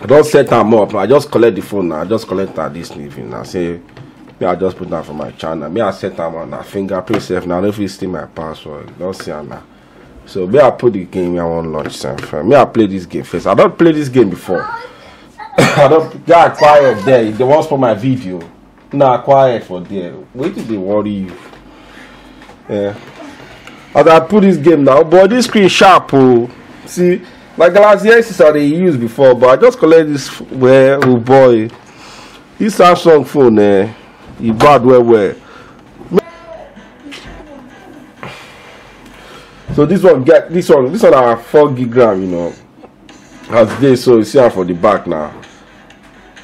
i don set am up i just collect the phone na i just collect am this evening na say me i just put am for my channel me i set am on na fingerprint sef na i no fit steal my password you don see am na so me i put the game i wan launch sef me i play this game first i don play this game before i don guy quiet there if they wan spoil my video na quiet for there wetin dey worry you eh as i put this game now but this screen sharp oh. see my galaxy s6 i dey use before but i just collect this well oh boy this samsung phone eh e bad well well so this one get this one this one na four gig ram you know as dey so you see am for the back now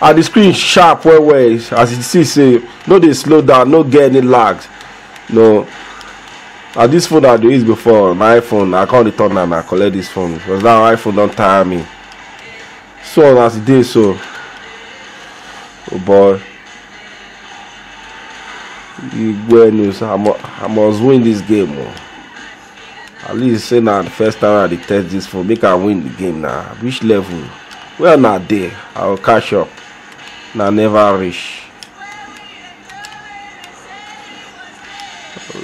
and the screen sharp well well as you see say no dey slow down no get any lag no na this phone i dey use before my iphone i come return am i collect this phone because now iphone don tire me so as e dey so oh boy igwe news i must win this game o. Oh. at least say na the first time i dey test this phone make i win the game na which level where una dey i go catch up na never reach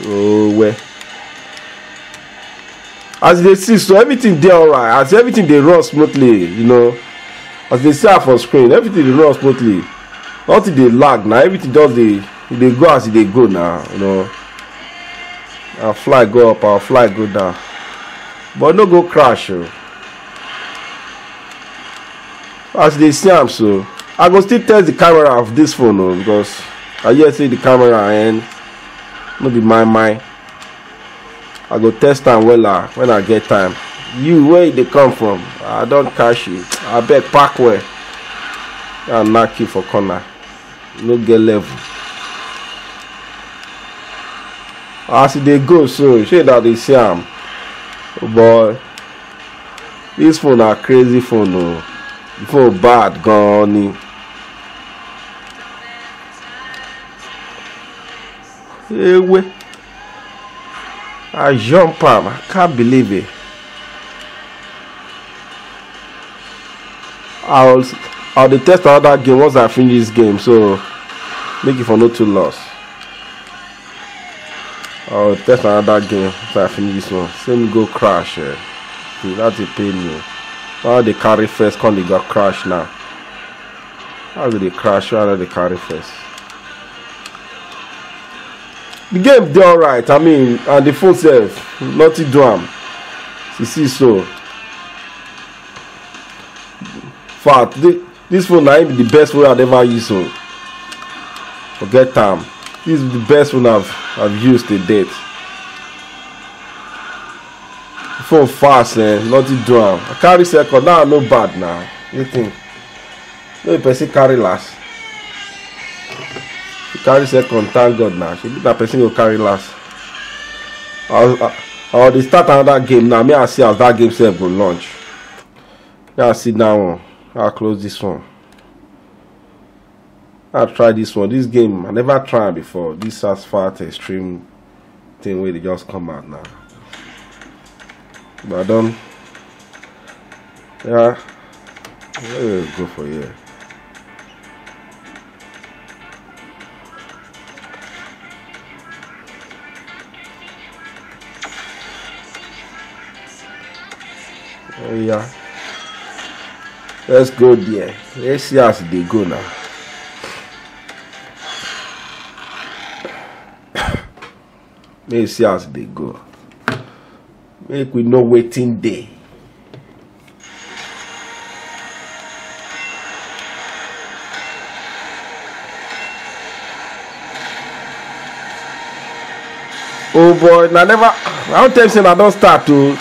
oh well as you dey see so everything dey alright as everything dey run smoothly you know as you dey see am for screen everything dey run smoothly nothing dey lag na everything just dey e dey go as e dey go now you know our fly go up our fly go down but no go crash o as you dey see am so i go still test the camera of this phone o because i hear say the camera and no be my mind i go test am wella when i get time you where you dey come from i don catch you abeg pack well i knack you for corner. no get level as e dey go so shey na dey see am oh boy this phone na crazy phone o oh. the phone bad gan ni. ewe I jump am. I can't believe it. I was I'll dey test another game once I finish this game, so make it for no too loss. I'll test another game once I finish this one. Same go crash. Eh. That's a pain me. Now they carry first, come they got crash now. How do they crash? How do they carry first? the game dey alright i mean and the phone sef nothing do am you see so fact this, this phone na be the best phone i've ever used so forget am this is the best phone i've i've used to date the phone fast eh nothing do am i carry second now i no bad now you think. no be person carry last you carry second thank god na shebi na person go carry last i was i, I was dey start another game now me i see as that game sef go launch me i see that one i close this one i try this one this game i never try am before this asphalt extreme thing wey dey just come out now but i don yeah where go for here oh yeah let's go there let's see as e dey go now May you see as they go. Make we know waiting day. oh boy na never i don tell you say na don start o oh.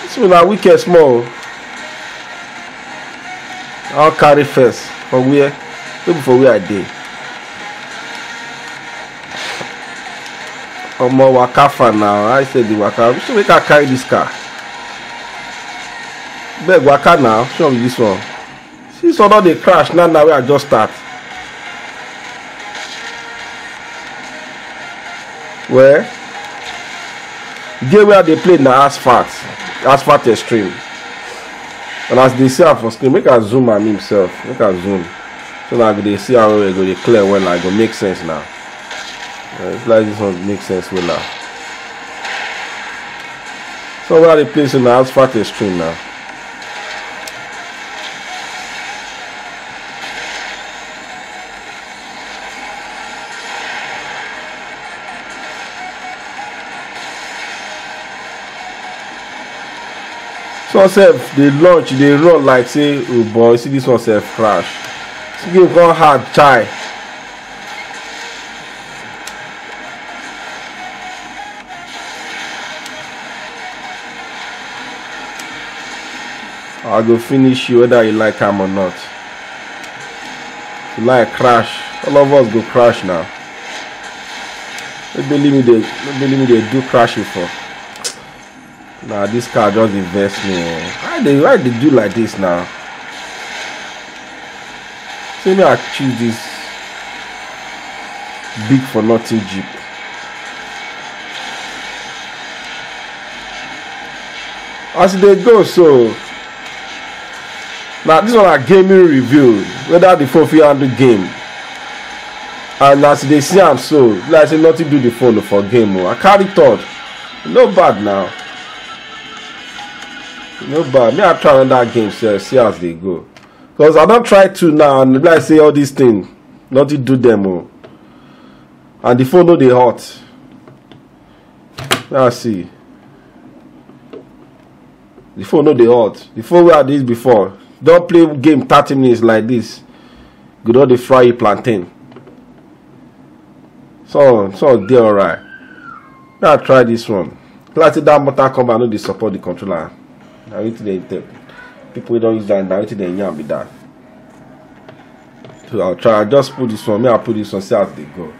this one na wicked small o i wan carry first for where no be for where i dey. omo waka far now i say the waka which make i carry this car beg waka now which one be this one see this one don dey crash now now wey i just start well game wey i dey play na asphalt asphalt extreme and as you dey see am for screen make i zoom am himself make i zoom. so that i go dey see am well e go dey clear wella e go make sense na eh, if like this one make sense wella so where i dey place na asphalt extreme na Some sef dey launch, e dey run like say oh boy, see this one sef crash. This game come hard chai. I go finish you whether you like am or not. If you like crash, all of us go crash now. No believe me, they no believe me, they do crash before. Nah, this car just dey vex me. oh. Why they why they do like this now? See me, I choose this big for nothing jeep. As e dey go so, na this one na gaming review whether the phone fit handle game and as you dey see am so be like say nothing do the phone for game o i carry third no bad now no bad me i try another game sef see as dey go because i don try to now and like say all this thing nothing do them o oh. and the phone no dey hot now see the phone no dey hot the phone wey i dey before don play game thirty minutes like this go don dey fry you plantain so so dey alright Now try this one. Plati that motor cover no dey support the controller. Na wetin dey tell people wey don use that na wetin dey yarn be that. So I'll try I just put this one. Me I put this one see as dey go.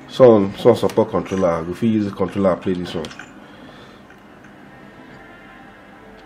Some some support controller. I go fit use the controller play this one.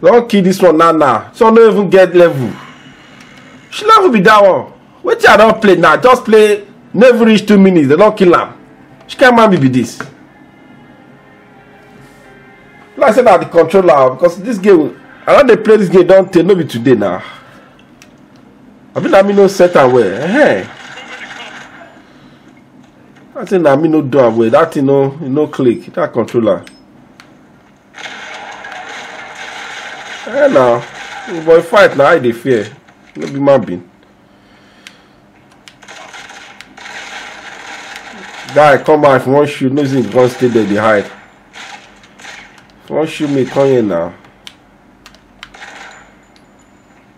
don kill this one now now so no even get level she level be that one wetin i don play now just play no even reach two minutes dem don kill am which kind man be be this like say na the controller because this game i don dey play this game don tey no be today na i be na me no set am well hey. i say na me no do am well that thing no e no click that controller eh na the boy fight na i dey fear no be man being guy come out if you wan shoot no say you wan stay there dey hide if you wan shoot me come here now.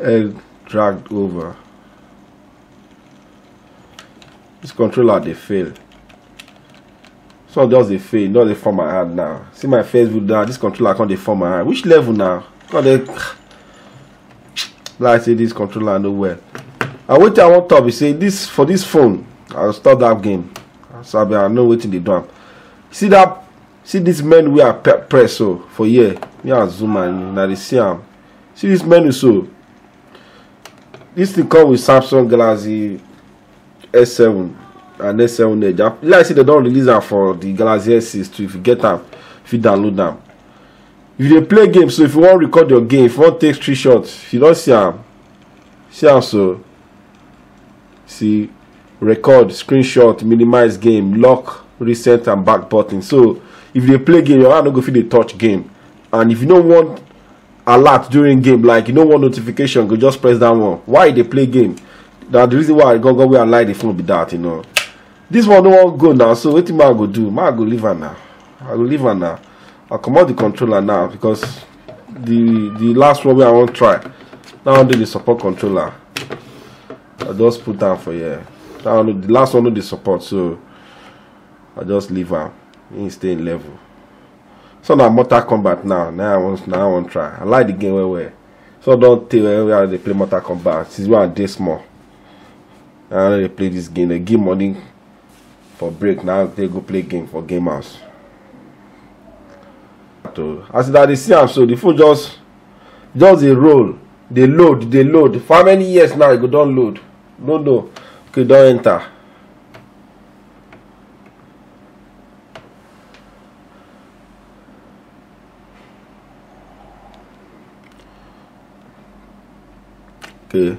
egg dragged over this controller they fail so just they fail not they form my hand now see my face with that this controller can't they form my hand which level now god they like say this controller no well and wetin i wan talk be say this for this phone i stop that game so i be i know wetin dey do am see that see this men wey i press so for here me and zoom and you na dey see am see this menu so this thing come with samsung galaxy s7 and s7 edge ah, like i say dem don release am for the galaxy s6 too if you get am if you download am if you dey play game so if you wan record your game if you wan take screenshot if you don see am see am so see record screenshot minimize game lock reset and back button so if you dey play game your hand no go fit dey touch game and if you no want alert during game like you no want notification go just press that one why you dey play game na the reason why i go go where i like the phone be that you know this one no wan go now so wetin man go do man go leave am now i go leave am now i comot the controller now because the the last one wey i wan try that one dey the support controller i just put down for here that one the last one no dey support so i just leave am him stay in level so na mortal kombat now na i wan na i wan try i like the game well well so don tey well well i dey play mortal kombat since when i dey small i no dey play this game dey give money for break now they go play game for game house so as una dey see am so the phone just just dey roll dey load dey load for how many years now e go don load no no okay don enter. okay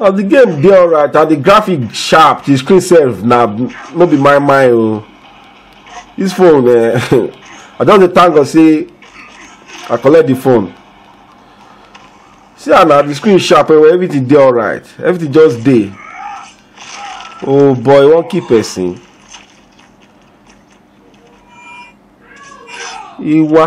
as the game dey alright and the graphic sharp the screen sef na no be my mind o oh. this phone eh i just dey thank god say i collect the phone see ah na the screen sharp well well everything dey alright everything just dey oh boy wan kill person iwa.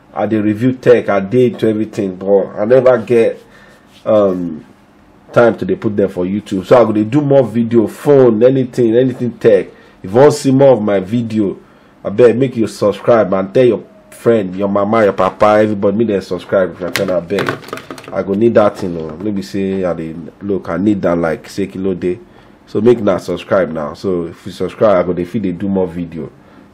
i dey review tech i dey into everything but i never get um, time to dey put them for youtube so i go dey do more video phone anything anything tech if you wan see more of my video abeg make you subscribe and tell your friend your mama your papa everybody make dem subscribe if i can abeg i go need that thing o no be say i dey look i need that like say kilo dey so make na subscribe now so if you subscribe i go dey fit dey do more video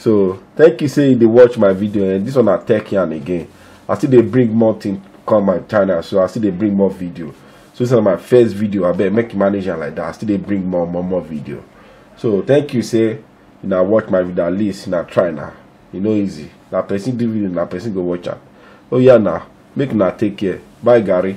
so thank you say you dey watch my video and eh? this one na tech yarn again i still dey bring more thing come my channel so i still dey bring more video so this na my first video abeg make you manage am like that i still dey bring more more more video so thank you say una watch my video at least una try na e no easy na person do video na person go watch am oh yeah na make una take care bye gary